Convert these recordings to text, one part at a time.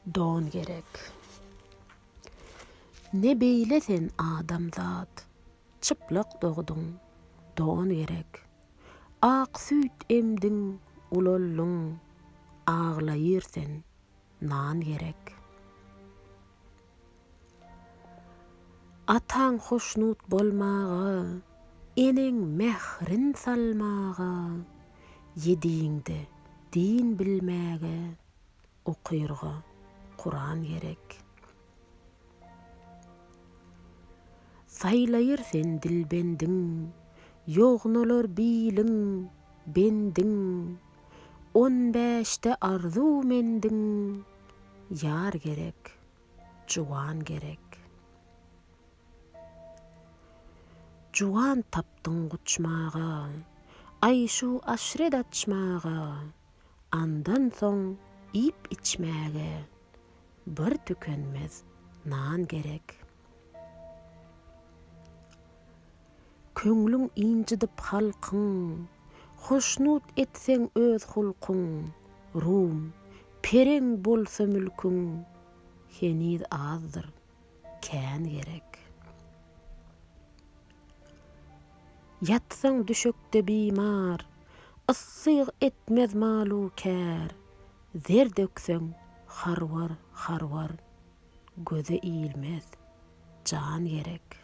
Don gerek. Ne beýle sen adamzat, çyplak dogduň, don gerek. Ak süýt emdiň, ulaldyň, aglaýyr sen, nan gerek. Ataň hoşnut bolmaga, eneň mährin salmaga, ýedigiňde din bilmäge, okyrga Kuran gerek. Saýlaýyr sen dilbendiň, ýognalar biliň, bendiň, On bäşde arzuw mendiň, ýar gerek, juwan gerek. Juwan tapdyň guçmaga, aýşu-aşret açmaga, Andan soň iýip-içmäge bir tükenmez nan gerek. Köňlüň ynjydyp halkyň, hoşnut etseň öz hulkuň, rum, pereň bolsa mülküň, heniz azdyr. Kän gerek. Ýatsaň düşekde bimar. Yssy etmez mal-u kär. Zer dökseň harwar, harwar. Göze ilmez. Jan gerek.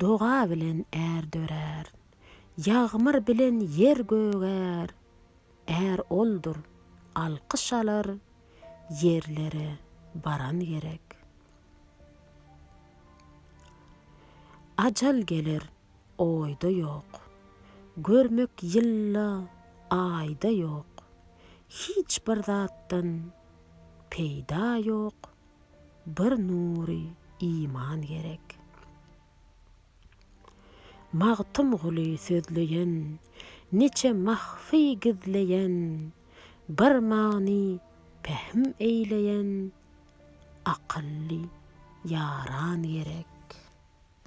Doga bilen är dörär. Ýagmyr bilen ýer gögär. Är oldur, alkyş alar, ýerlere baran gerek. Ajal geler, oýda ýok. Görmek ýylda, aýda ýok. Hiç bir zatdan peýda ýok, bir nury iman gerek. Magtymguly sözleýen, niçe mahfy gizleýen, bir many pähim eýleýen akylly ýaran gerek.